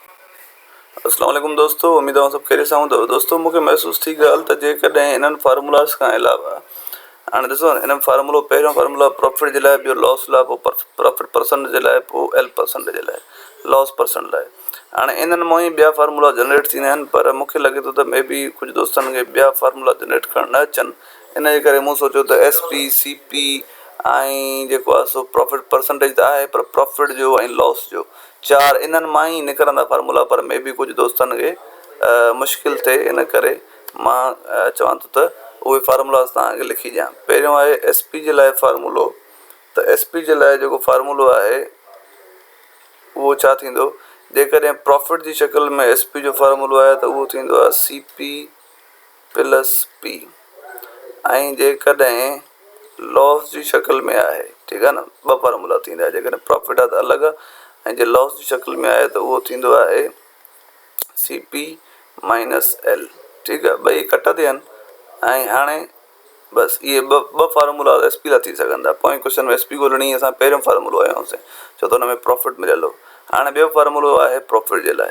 السلام عليڪم دوستو اميد اوهان سڀ خيريت سان هوندؤ دوستو مونکي محسوس ٿي ڳالهه ته جيڪڏهن انهن فارمولاز کان علاوه هاڻي ڏسو انهن فارمولو پهريون فارمولا پروفٽ جي لاء ٻيو لوس لاء پوء پروفٽ پرسنٽ جي لاء پوء ايل پرسنٽ جي لاء لوس پرسنٽ لاء هاڻي انهن مون ئي ٻيا فارمولا جنريٽ ٿيندا آهن پر مونکي لڳي ٿو ته مي بي ڪجهه دوستن کي ٻيا فارمولا جنريٽ ڪرڻ نه اچن ان جي ڪري مون سوچيو ته ايس پي سي پي ۽ جيڪو آهي سو پروفٽ پرسنٽيج ته آهي پر پروفٽ جو ۽ لوس جو چار انهن مان ئي نڪرندا فارمولا پر مي بي ڪجهه دوستن کي مشڪل ٿئي ان ڪري مان چوان ٿو ته اهي فارمولاز توهان کي لکي ڏيان پهريون آهي ايس پي جي لاء فارمولو ته ايس پي جي لاء جيڪو فارمولو آهي اهو ڇا ٿيندو جيڪڏهن پرافٽ جي شڪل ۾ ايس پي جو فارمولو آهي ته اهو ٿيندو آهي سي پي پلس پي ۽ جيڪڏهن Loss جي شڪل ۾ آهي ٺيڪ آهي نه ٻه فارمولا ٿيندا آهن جيڪڏهن پرافٽ آهي ته الڳ ۽ جي Loss جي شڪل ۾ آهي ته اهو ٿيندو آهي سي پي مائنس ايل ٺيڪ آهي ٻئي ڪٽ تي آهن ۽ هاڻي بس اهي ٻه ٻه فارمولا ايس پي لا ٿي سگهن ٿا پوئين ڪوشچن ۾ ايس پي ڳولهڻي هئي اسان پهريون فارمولو هنيو هوسين ڇو ته هن ۾ پرافٽ مليل هو هاڻي ٻيو فارمولو آهي پرافٽ جي لاء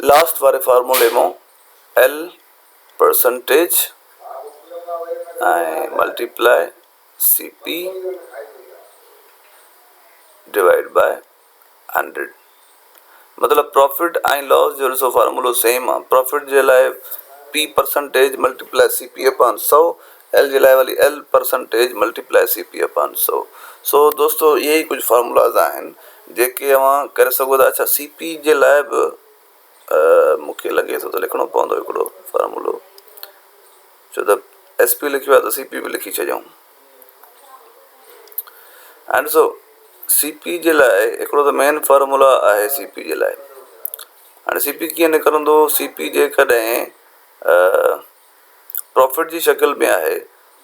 لاسٽ واري فارمولي مون L percentage ۽ multiply C P divide by hundred مطلب پرافٽ ۽ لاس جو ڏسو فارمولو سيم آ پرافٽ جي لاء P percentage multiply C P upon سو ايل جي لاء ولي L percentage multiply C P upon سو. سو دوستو اهي ئي ڪجهه فارمولاز آهن جيڪي اوهان ڪري سگهو ٿا. اڇا سي پي جي لاء به مون کي لڳي ٿو ته لکڻو پوندو هڪڙو فارمولو ڇو ته ايس پي لکيو آهي ته سي پي به لکي ڇڏيون. اينڊ سو سي پي جي لاء هڪڙو ته مين فارمولا آهي سي پي جي لاء هاڻي سي پي ڪيئن نڪرندو سي پي جيڪڏهن پرافٽ جي شڪل ۾ آهي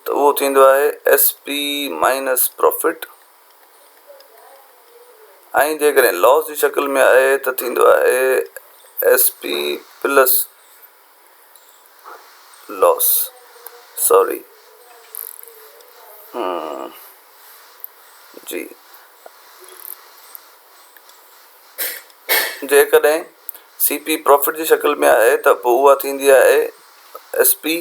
ته اهو ٿيندو آهي ايس پي مائنس پرافٽ ۽ جيڪڏهن لاس جي شڪل ۾ آهي ته ٿيندو آهي S P plus loss sorry جي جيڪڏهن سي پي پرافٽ جي شڪل ۾ آهي ته پوء اها ٿيندي آهي ايس پي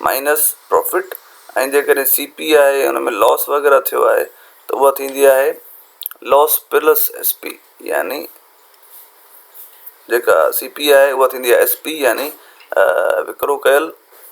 مائنس پرافٽ ۽ جيڪڏهن سي پي آهي ان ۾ لاس وغيره ٿيو آهي ته اها ٿيندي آهي لاس پلس ايس پي يعني جيڪا سي پي آهي اها ٿيندي آهي ايس پي يعني وڪرو ڪيل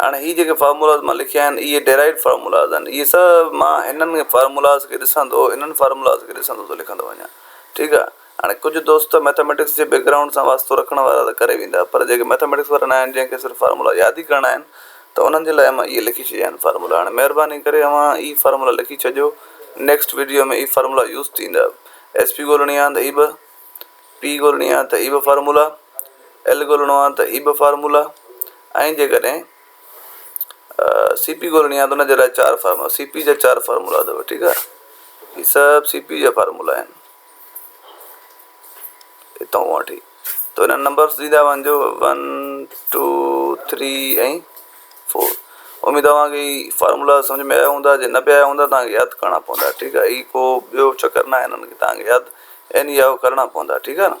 هاڻي هي جيڪي فارمولاز مان لکيا آهن اهي ڊيرائيوڊ فارمولاز آهن اهي سڀ مان هنن فارمولاز کي ڏسندو انهن فارمولاز کي ڏسندو ٿو لکندو وڃان ٺيڪ آهي هاڻي ڪجهه دوست ته مئٿميٽڪس جي بيڪ گرائونڊ سان واسطو رکڻ وارا ته ڪري ويندا پر جيڪي مئٿميٽڪس وارا ناهن جنهن کي صرف فارمولا ياد ئي ڪرڻا آهن ته انهن جي لاء مان اهي لکي ڇڏيا آهن فارمولا هاڻي مهرباني ڪري اوهان اهي فارمولا لکي ڇڏيو نيڪسٽ ويڊيو ۾ اهي فارمولا يوز ٿيندا ايس پي ڳولڻي آهن ته هي ٻه پي ڳولڻي آ ته هي به فارمولا، ايل ڳولڻو آ ته هي به فارمولا ۽ جيڪڏهن سي پي ڳولڻي آ ته ان جي لاء چار فارمولا سي پي جا چار فارمولا اٿو ٺيڪ آ هي سڀ سي پي جا فارمولا آهن هتان وٺي ته هن نمبرس ڏيندا وڃجو ون ٽو ٿري ۽ فور اميد اوهان کي هي فارمولا سمجهه ۾ آيا هوندا جي نه به آيا هوندا توهان کي ياد ڪرڻا پوندا ٺيڪ آهي هي ڪو ٻيو چڪر ناهي هنن کي توهان کي ياد اين اي آء او ڪرڻا پوندا ٺيڪ آهي نه.